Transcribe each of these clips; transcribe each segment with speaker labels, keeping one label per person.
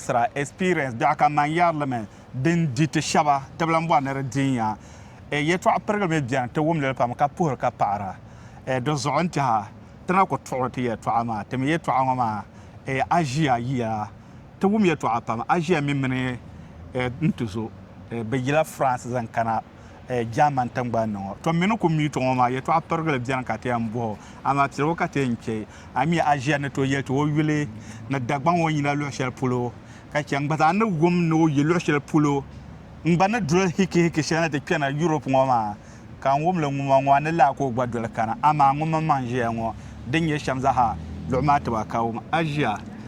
Speaker 1: sira, experience, dɔɣi ka man yari li mi din di ti shɛba tibi lan bɔri ni di di n-ya. E yɛtɔɣ pirigili mi beni ti wum li li pam ka puhiri ka paɣira. E di zuɣu n-tɛha ti na ku tuɣiri ti yɛtɔɣa maa. Ti mi yɛtɔɣa ŋɔ maa e aʒiya yiya. Ti wum yɛtɔɣa pam aʒiya mi mini e ntuzo e bɛ yila France zaŋ kana. Jaamani tiŋgbani ni ŋɔ. Tɔ mini kum yuto ŋɔ maa, yɛtɔɣ pirigili beni ka ti yɛn bɔh o, amaa piligu ka ti yɛn chɛ a mi aʒia ni tooi yɛli ti o yuli ni Dagbaŋ o ni yina luɣ shɛli polo, ka chɛ n gba zaa ni wum ni o yi luɣ shɛli polo. N gba ni doli hikihiki shɛli ni ti kpɛna Yurop ŋɔ maa, ka n wum li ŋuma ŋɔ, a ni lahi ka o gba doli kana. Amaa ŋun mini ma ni ʒiya ŋɔ, din nyɛ shɛm zaa ha, luɣ maa ti ba ka wum aʒia.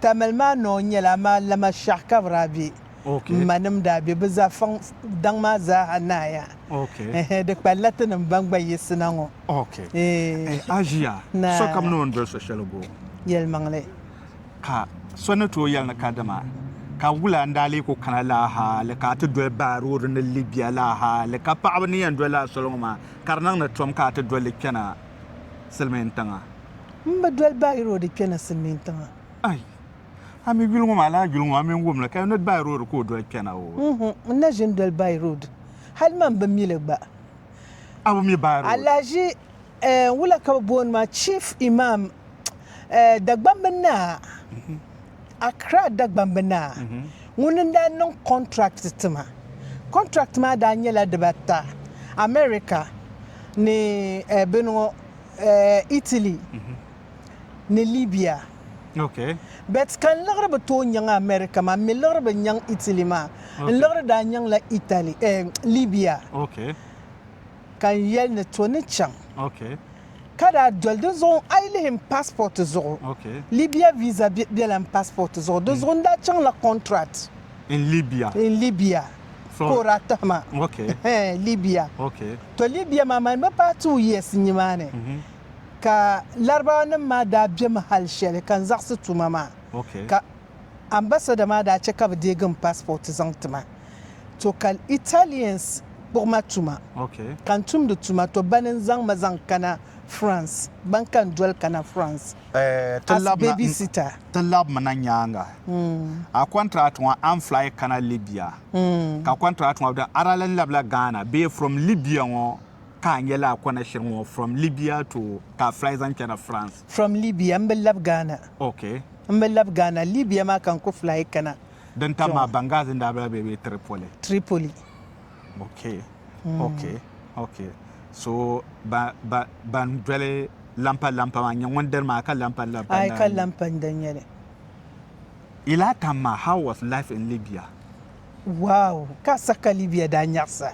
Speaker 1: Tamale maa noo nyɛla amaa lama shɛh ka bɛ daa be. M manim daa be bɛ zafaŋ daŋ maa zaaha nahiya. Ɛhɛ, di kpalila tinim ban gba yiɣisi na ŋɔ. Eeh. A ʒiya, sokam ni o ni doli so shɛli bo. Yɛlimaŋli. Ka so ni tooi yɛli ni kadama ka wula n-daa lee ku kana laa hali ka a ti doli Baaroodi ni Libya laa hali ka paɣaba ni yɛn doli a soli ŋɔ maa ka di niŋ ni tom ka a ti doli li kpɛna. silimiin tiŋa. M bi doli by road kpɛna silimiin tiŋa. Ai! A mi yuli ŋɔ maa lala yuli ŋɔ a mi n wumli ka ni by road ka o doli kpɛna oo. Mh n na ʒin doli by road hali man bi mi li gba. A bi mi by road. Alaji eh wula ka bi booni ma chief imam eh Dagbamb naa Accra Dagbamb Naa ŋuni n-daa niŋ contract tima. Contract maa daa nyɛla dibata, America ni bini ŋɔ Italy ni Libya. But ka n liɣiri bi tooi nyaŋ America maa, m-mi liɣiri bi nyaŋ Italy maa, n liɣiri daa nyaŋla Italy, Libya. ka n yɛli ni to ni chaŋ ka daa doli di zuɣu a yi lihi n pasport zuɣu Libya visa bela n pasport zuɣu di zuɣu n daa chaŋla contract in Libya in Libya ka o daa tihi ma Libya to Libya maa mani bi paai two years n nimaani mhm. ka larabawa nim maa daa bemi hali shɛli ka n zaɣisi tuma maa ka Ambassador maa daa che ka bɛ deegi m passport zaŋ ti ma. To ka Italians kpuɣi ma tuma ka n tumdi tuma to bani n zaŋ ma zaŋ kana France, ban ka n doli kana France as baby sitter. Ti lab mi na nyaaŋa. A contract ŋɔ a ni fly kana Libya ka contract ŋɔ beni. Ara lan labila Ghana bee from Libya ŋɔ ka a nya laa kɔna shiri ŋɔ from Libya to ka a fly zaŋ chana France? From Libya, m bi lab Ghana. Okay. M bi lab Ghana. Libya maa ka n ku fly kana. Din tam maa Benghazi n daa bela bee bee Tripoli? Tripoli. Ok. Ok. Ok. So ba ba ban doli lampa lampa maa n nye ŋun diri maa ka lampa lampa n daa nye? Ayi ka lampa n da nyeli. Yi lahi tam maa how was life in Libya? Wow! Ka saka Libya daa nyaɣisa?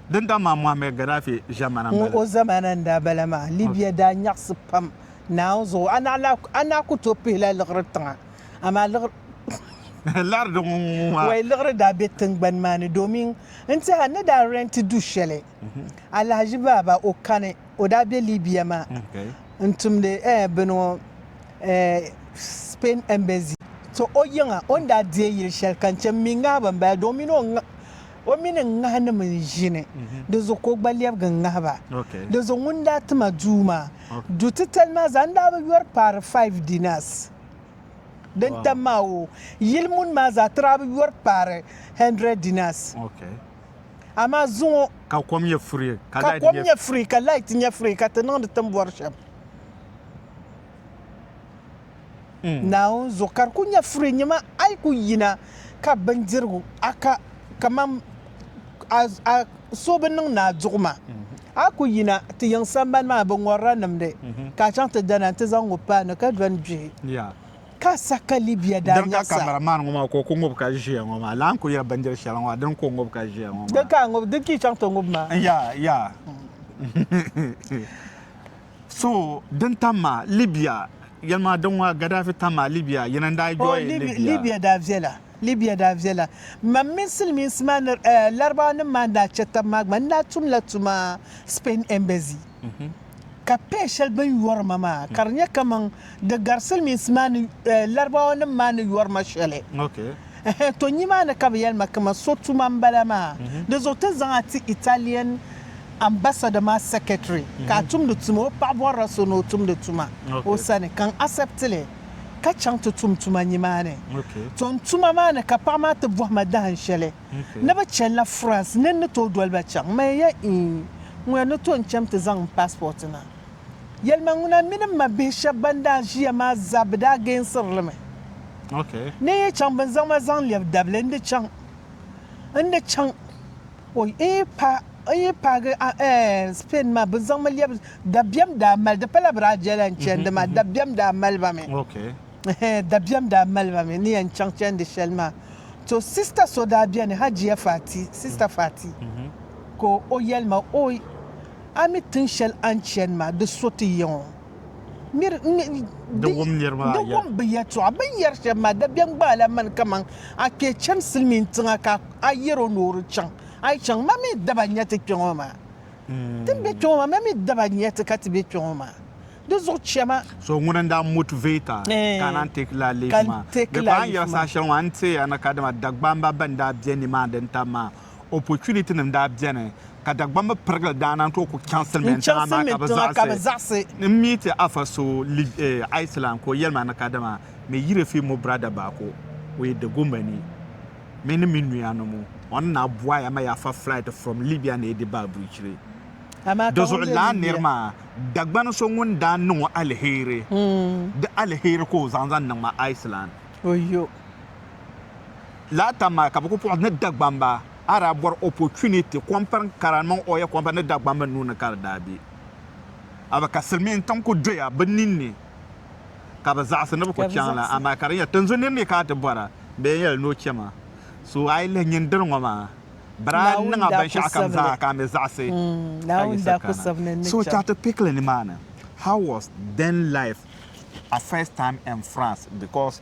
Speaker 1: Dinta maa Mohamed Gaddafi ʒɛmana n-bala. Ŋ-ɔ ʒɛmana n-daa bala maa. Libya daa nyaɣisi pam naawuni zuɣu. A naɣ ku tooi pihila liɣiri tiŋa, amaa liɣiri. Liɣiri di ŋun ŋun maa? Wai liɣiri daa be tiŋgbani maa ni domin n-tiɛha n ni daa rɛnti du shɛli. Alahaji Baaba o kani o daa be Libya maa n tumdi bini ŋɔ Spain embassy. To o yiŋa o ni daa deei yili shɛli ka n che m mi ŋahi ba m-bala di o mini n ŋahinim n-ʒini di zuɣu ka o gba lɛbigi n-ŋahi ba di zuɣu ŋun daa ti ma duu maa du titali maa zaa n daa bi yɔri paari five dinars din tam maa o yili muni maa zaa ti daa bi yɔri paari hundred dinars. amaa zuŋɔ ka kom nyɛ furi ka ka kom nyɛ furi ka light nyɛ furi ka ti niŋdi tin bɔri shɛm mm. naawuni zuɣu ka di ku nyɛ furi nyɛma a yi ku yina ka bindirigu a ka kamani a so bi niŋ ni a duɣu maa mm. a ku yina ti yiŋ sambani maa bi ŋɔrila nimdi mm-hmm. ka a chaŋ ti dana nti zaŋ ŋɔ paanu ka dɔni gbihi ka sa ka Libia daa nyɛɣisa. Din ka kamara maan ŋɔ maa ka o ku ŋub ka ʒiya ŋɔ maa laa n-ku yɛli bindiri shɛli ŋɔ maa dini ka o ŋub ka ʒiya ŋɔ maa. Din ka a ŋub, din ka yi chaŋ ti ŋub maa. N yaa, yaa. So din tam ma Libia, yɛli ma din ŋɔ Gaddafi tam ma Libia, yɛna n-daa yɔi Libia. Oh, Libia daa viɛla. Libya daa viɛla. Mam mini Silimiinsi maa ni Larabawanim maa ni daa chɛ tab maa gba, n daa tumla tuma Spain Embassy. Ka pay shɛli bɛ ni yɔri ma maa, ka di nyɛ kaman di gari Silimiinsi maa ni Larabawanim maa ni yɔri ma shɛli. Ɛhɛn tɔ nimaani ka bɛ yɛli ma kaman so tuma m-bala maa. Di zuɣu ti zaŋ a ti Italian Ambassador maa secretary ka a tumdi tuma. O paɣibɔrila so ni o tumdi tuma o sani ka n accept li. ka chaŋ ti tum tuma nimaani. Ton tuma maa ni ka paɣa maa ti bɔhi ma dahin shɛli ni bɛ chani la France ni n ni tooi doli ba chaŋ. M mali ya iin ŋuna ni tooi n-chaŋ nti zaŋ n passport na. Yɛlima ŋuna mini m ma bihi shɛba ban daa ʒiya maa zaa bɛ daa geensiri li mi ni n yi chaŋ bɛ ni zaŋ ma zaŋ lɛbi dabili n di chaŋ n di chaŋ. O yi paagi Spain maa, bɛ zaŋmi lɛbi dabiɛm daa mali, di pala Brazil yɛn chandi maa, dabiɛm daa mali ba mi, dabiɛm daa mali ba mi ni yɛn chaŋ chandi shɛli maa. To sista so daa beni Hajiya Fati, sista Fati, ka o yɛli ma, Oi, a mi tiŋ shɛli a ni chani maa, di so ti yiŋ o. di wum bɛ yɛtɔɣa bɛ ni yɛri shɛm maa dabiɛm gbaai la mani kaman a kpee chani silimiin tiŋa ka a yɛr o ni o di chaŋ a yi chaŋ ma mi daba nya ti kpe ŋɔ maa ti ni be kpe ŋɔ maa ma mi daba nya ti ka ti be kpe ŋɔ maa di zuɣu chɛma so ŋuni n daa motivate a ka a naan take la leave maa bɛ ka a ni yɛri saha shɛli ŋɔ a ni teei a ni kadama Dagbamba bɛn daa be ni maa din tam maa opportunitynim daa beni ka Dagbamba pirigili daa naan tooi ku chaŋ silimiin tiŋa maa ka bɛ zaɣisi n mi ti Afa so Iceland ka o yɛli ma ni kadama mi yiri fi mo brada Bako o yi Dagomba ni mi ni mi nuya ni mo o ni naa bɔya ma ya fa flight from Libya ni yi di baa brichiri di zuɣu laa niri maa Dagbani so ŋun daa niŋ o aliheri di aliheri ka o zaŋ zaŋ niŋ ma Iceland. laa tam maa ka bɛ ku puɣi ni Dagbamba, a daa bɔri opportunity, kɔmpiriŋ kara ni mini oil company ni Dagbamba nuu ni ka di daa be. A mi ka Silimiin tiŋ ku doya bɛ nin ni ka bɛ zaɣisi ni bɛ ku chaŋ la, amaa ka di nyɛla tinzun nir mi ka a ti bɔri a, bɛ yɛn yɛli ni o chɛ maa. So a yi lihi nyin diri ŋɔ maa, bɛri a niŋ a binshɛɣu kam zaa ka a mi zaɣisi ka yiɣisi kana. So ti a ti pick li nimaani, how was then life a first time in France because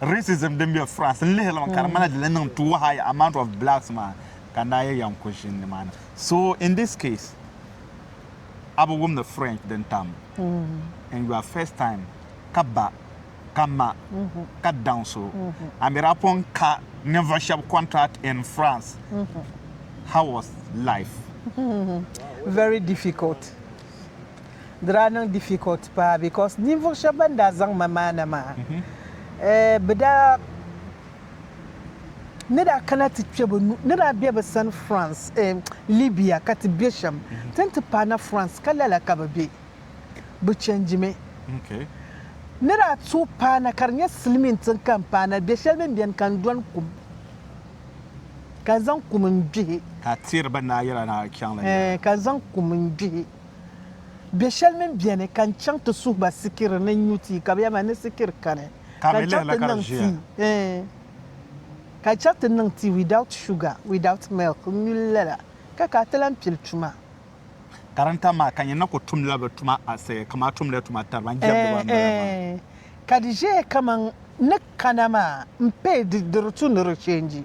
Speaker 1: racism din be France n lihiri mi ka di ŋmanila di lan niŋ too high amount of blacks maa ka n daa yɛli ya n ku ʒini nimaani so in this case a bi wum ni French din tam in your first time ka ba ka ma ka daŋ so a mi daa pun ka ninvuɣu shɛba contract in France how was life? Very difficult. Di daa niŋ difficult paa because ninvuɣu shɛba ban daa zaŋ ma maana maa bɛ daa ni daa kana ti kpe bɛ nuhi ni daa be bɛ sani France Libya ka ti be shɛm ti ni ti paai na France ka lala ka bɛ be bɛ change mi ni daa tooi paai na ka di nyɛ silimiin tiŋ ka n paai na be shɛli bɛn beni ka n dɔni kum ka n zaŋ kum n gbihi ka n zaŋ kum n gbihi. Bɛ shɛli mini bɛni ka n chaŋ ti suhi ba sikiri ni n nyu tii, ka bɛ yɛli ma, Ni sikiri kani, ka n chaŋ ti niŋ tii, eeh, ka n chaŋ ti niŋ tii without sugar, without milk, n nyu li lala, ka ka a ti lan pili tuma. Karinta maa, ka nyɛ na ku tumdila bɛ tuma asi kaman a tumdi tuma tariba n jɛmdiba n bala maa. Eeh, ka di ʒeya kaman ni kana maa m-pay di di return rechange.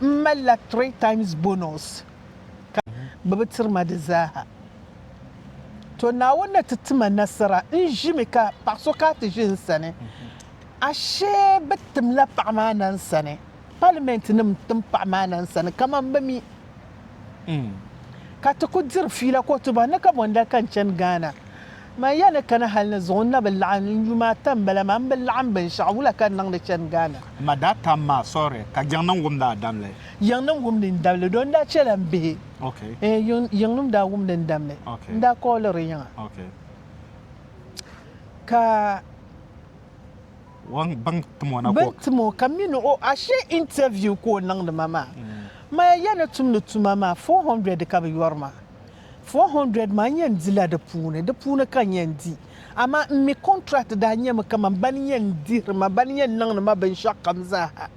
Speaker 1: M malila three times bonus ka bɛ bi tiri ma di zaaha. To Naawuni ni ti ti ma nasara n ʒimi ka paɣa so ka ti ʒi n sani. Ashee bɛ timla paɣa maa na n sani. Parliament nim n tim paɣa maa na n sani kaman bɛ mi ka ti ku diri fiila ka o ti bɔhi ni kabɔnda ka n chani Ghana. Man ya ni kana hali ni zuɣu n na bi laɣim n yuma ata m bala maa m bi laɣim binshɛɣu wula ka n niŋdi chani Ghana. M ma daa tam ma sɔri ka yiŋnim wumdi a damli. Yiŋnim wumdi n damli doo n daa chɛla m bihi ee yiŋnim daa wumdi n damli n daa kɔɔliri yiŋa ka bɛn tim o ka mi ni o ashe interview ka o niŋdi ma maa. M ma ya ni tumdi tuma maa four hundred ka bi yɔri ma. 400 maa n yɛn dila di puuni, di puuni ka n yɛn di. Amaa m mi kɔntirat daa nyɛmi kaman ba ni yɛn dihiri ma, ba ni yɛn niŋdi ma binshɛɣu kam zaaha.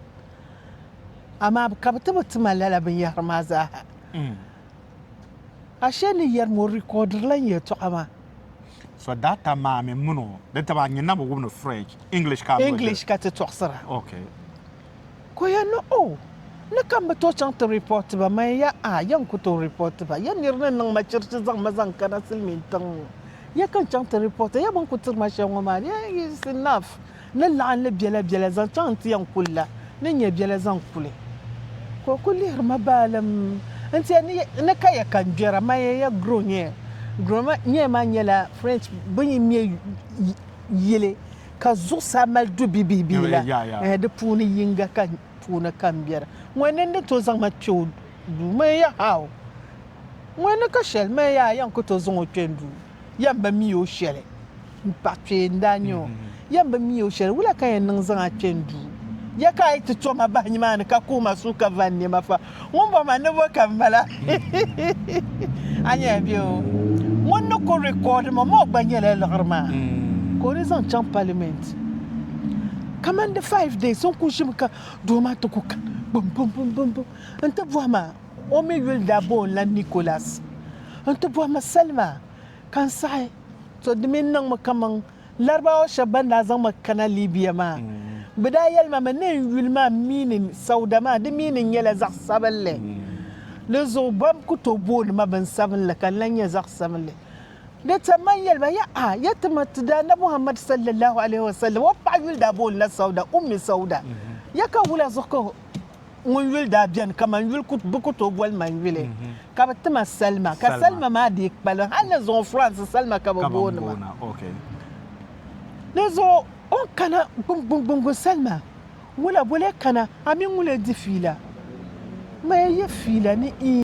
Speaker 1: Amaa ka bɛ ti bi ti ma lala binyɛhiri maa zaaha. Ashee ni yɛrim o rikɔɔdirila n yɛtɔɣa maa. So daa tam ma a mini o, di taba a nyin na bi wum ni French, English ka a ni o diri? English ka ti tɔɣisira. Okay. Ka o yɛn ni, O, ni ka m bi tooi chaŋ ti ripɔɔti ba man ya a, ya n-ku tooi ripɔɔti ba. Ya nir ni niŋ ma chirichi zaŋ ma zaŋ kana silimiin tiŋ ŋɔ, ya ka n chaŋ ti ripɔɔti a. Ya bɛn ku tiri ma shɛli ŋɔ maa, di yɛn yi is enough. Ni laɣim li biɛla biɛla zaŋ chaŋ nti yɛn ku li la, ni nya biɛla zaŋ ku li. Ka o kul lihiri ma baalim nti ya, Ni, ni ka ya ka n gbɛra man ya, ya gro nyɛya. Gro nyɛya maa nyɛla French bɛ ni yi mɛ yili ka zuɣusaa mali du bibihi bihi la, di puuni yiŋga ka puuni ka n biɛri. Ŋun ni ni tooi zaŋ ma kpe o duu, mali ya how? Ŋun ni ka shɛli, mali ya a yɛn ku tooi zaŋ o kpe n duu? Yɛn bi mi o shɛli? M paɣ kpee n-daa nyɛ o. Yɛn bi mi o shɛli? Wula ka yɛn niŋ zaŋ a kpe n duu? Ya ka a yi ti to ma bahi nimaani ka kuhi ma suhu ka van ni ma fa, Ŋun bɔ ma ni bɔ ka m mala. A nya bɛ o. Ŋun ni ku record ma maa o gba nyɛla liɣiri maa ka o ni zaŋ chaŋ parliament. Kamani di five days n ku ʒimi ka doo maa ti ku ka gbum bum bum bum bum n ti bɔhi ma o mi yuli daa bo n la Nicholas n ti bɔhi ma salima ka n saɣi to di mi niŋmi kaman Larabawa shɛba ban daa zaŋ ma kana Libya maa, bɛ daa yɛli ma mi ni n yuli maa miinin Sauda maa, di miinin nyɛla zaɣ sabinli. Di zuɣu bɛm ku tooi booni ma binsabinli ka n lan nyɛ zaɣ sabinli. Di tam ma n yɛli ba, Yaha! Ya ti ma ti Daana Muhammad sallallahu alaihi wasallam, o paɣa yuli daa boonila Sauda, Ummi Sauda. Ya ka wula zuɣu ka o. ŋun yuli daa beni kaman yuli bɛ ku tooi boli ma yuli ka bɛ ti ma salima ka salima maa dii kpalim hal ni zuŋɔ France salima ka bɛ booni ma di zuɣu o ni kana gbuŋgbuŋ salima ŋula boli e kana a mini ŋula e di fiila ma e yi fiila ni ii.